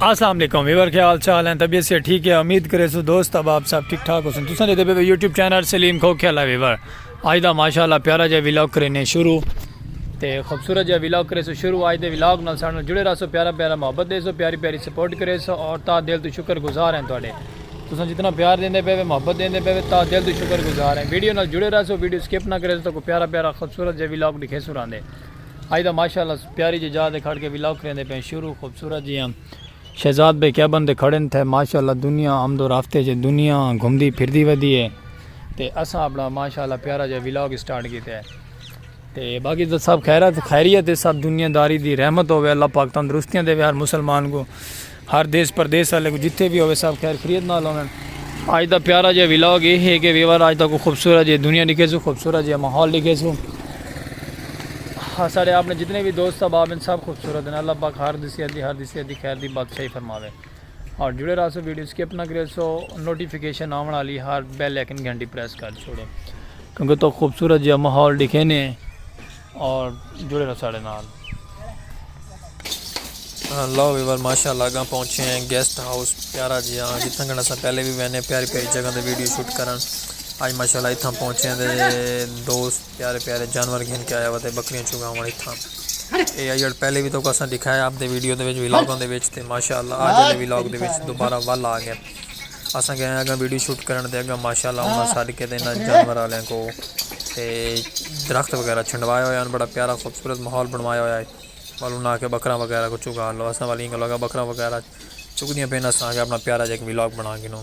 السلام علیکم ویور کے حال چال ہیں طبیعت سے ٹھیک ہے امید کرے سو دوست اب آپ سب ٹھیک ٹھاک ہو سن تساں دے پے یوٹیوب چینل سلیم کھو کھیلا ویور آج دا ماشاءاللہ پیارا جے ویلاگ کرنے شروع تے خوبصورت جے ویلاگ کرے سو شروع آج دے ویلاگ نال سانو جڑے رہا سو پیارا پیارا محبت دے سو پیاری پیاری سپورٹ کرے سو اور تا دل تو شکر گزار ہیں تواڈے تساں جتنا پیار دیندے پے وے محبت دیندے پے وے تا دل تو شکر گزار ہیں ویڈیو نال جڑے رہا سو ویڈیو سکپ نہ کرے سو تو کو پیارا پیارا خوبصورت جے ویلاگ دکھے سو راندے اج دا ماشاء اللہ پیاری جی جاہ تے کھڑ کے ولاگ کریندے پئے شروع خوبصورت جیاں شہزاد بھائی کیبن تے کھڑے تھے ماشاء اللہ دنیا آمد و رفت اچ ہے دنیا گھمدی پھردی ودی ہے تے اساں اپنا ماشاء اللہ پیارا جیاں ولاگ اسٹارٹ کیتا ہے تے باقی تو سب خیرت خیریت ہے سب دنیا داری دی رحمت ہوے اللہ پاک تندرستیاں دے ہر مسلمان کو ہر دیس پردیس آلے کوں جتھے وی ہووے سب خیر خریت نال ہوون۔ اج دا پیارا جیہا ولاگ اے ہے کہ ویور اج تہاکوں خوبصورت جیہی دنیا ڈکھیسوں خوبصورت جیہا ماحول ڈکھیسوں اساڈے اپنے جتنے وی دوست احباب ہن سب خوبصورت ہن اللہ پاک ہر دی صحت دی ہر دی صحت دی خیر دی بادشاہی فرماوے اور جڑے رہسو ویڈیو سکپ نہ کریسو نوٹیفکیشن آون آلی ہر بیل آئیکن گھنٹی پریس کر چھوڑو کیونکہ تہاکوں خوبصورت جیہا ماحول ڈکھینے۔ اور جڑے رہو ساڑے نال لو ویور ماشاء اللہ اگاں پہنچے ہیں گیسٹ ہاؤس پیارا جی ہاں جی تھنگنا سا پہلے بھی وینے پیاری پیاری جگہ دے ویڈیو شوٹ کرن آج ماشاء اللہ اتھاں پہنچے ہیں دے دوست پیارے پیارے جانور گھن کے آیا وتے بکریاں چگا ہوں اتھاں اے ایڈ پہلے بھی تو کساں دکھایا آپ دے ویڈیو دے ویچ ویلاگوں دے ویچ تے ماشاء اللہ آج دے ویلاگ دے ویچ دوبارہ والا آگے اساں گئے اگاں ویڈیو شوٹ کرن تے اگاں ماشاءاللہ انہاں سڈ کے تے انہاں جانور والوں کو تے درخت وغیرہ چھنڈوائے ہوئے ہن بڑا پیارا خوبصورت ماحول بنوایا ہویا ہے ول انہاں آکھیا بکرا وغیرہ کو چگا لو اساں والی انہاں آکھیا بکرا وغیرہ چگدیاں پئے اساں آکھیا اپنا پیارا جیک ولاگ بنا گھنوں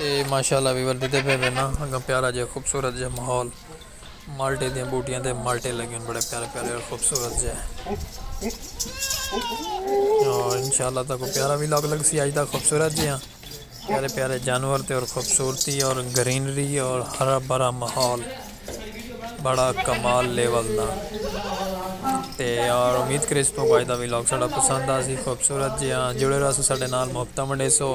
اے ماشاءاللہ ویور ڈیدھے پے وے نا اگاں پیارا جے خوبصورت جے ماحول مالٹے دیاں بوٹیاں تے مالٹے لگے بڑے پیارے پیارے اور خوبصورت جے اور انشاءاللہ تاں کو پیارا بھی لوگ لگ سی آج دا خوبصورت جے ہاں پیارے پیارے جانور تے اور خوبصورتی اور گرینری اور ہرا بھرا ماحول بڑا کمال لیول دا تے اور امید کریس پو آج دا بھی لوگ سڑا پسند آ سی خوبصورت جے ہاں جڑے رہا سو سڑے نال محبتہ منڈے سو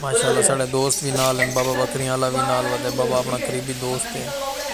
ماشاءاللہ ساڑے دوست وی نال ہن بابا بکریاں آلا وی نال ودے بابا اپنا قریبی دوست ہے۔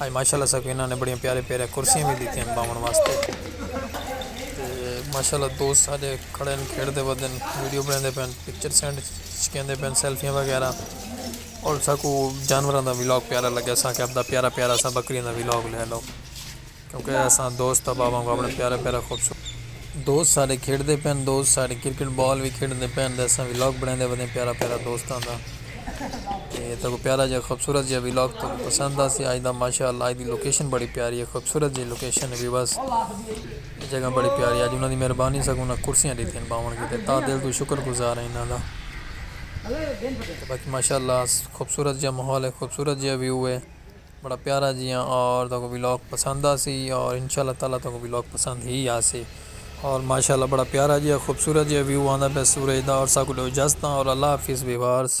اج ماشاءاللہ ساکوں انہاں نے بڑیاں پیارے پیارے کرسیاں وی ڈتیاں ہن باون واسطے تے ماشاءاللہ دوست ساڈے کھڑے ہن کھیڈ دے ودے ہن ویڈیو بنڑیندے پئے ہن پکچر سینڈ کیندے پئے ہن سیلفیاں وغیرہ اور ساکوں جانوراں دا ولاگ پیارا لگیا ساکوں اپنا پیارا پیارا سا بکریاں دا ولاگ لے لو۔ کیونکہ اساں دوست احباب وانگوں اپݨے پیارے پیارے خوبصورت۔ دوست ساݙے کھیݙدے پئن دوست ساݙی کرکٹ بال وی کھیݙدے پئن تے اساں ولاگ بݨیندے ودے پیارا پیارا دوستاں دا تے تہاکوں پیارا جیہا خوبصورت جیہا ولاگ تہاکوں پسند آسی اڄ دا ماشاءاللہ اڄ دی لوکیشن بڑی پیاری ہے خوبصورت جیہی لوکیشن ہے ویورز اے جگہ بڑی پیاری ہے اڄ انہاں دی مہربانی ساکوں انہاں کرسیاں ݙتیاں ہن ٻاہوݨ کیتے تاں دل توں شکر گزار ہیں انہاں دا تے باقی ماشاءاللہ خوبصورت جیہا ماحول ہے خوبصورت جیہا ویو ہے۔ بڑا پیارا جیاں اور تہاکوں ولاگ پسند آسی اور انشاء اللہ تعالی تہاکوں ولاگ پسند ہی آسی اور ماشاءاللہ بڑا پیارا جیاں خوبصورت جیاں ویو آندا پیا سورج دا اور ساکوں ڈیو اجازتاں اور اللہ حافظ ویورز۔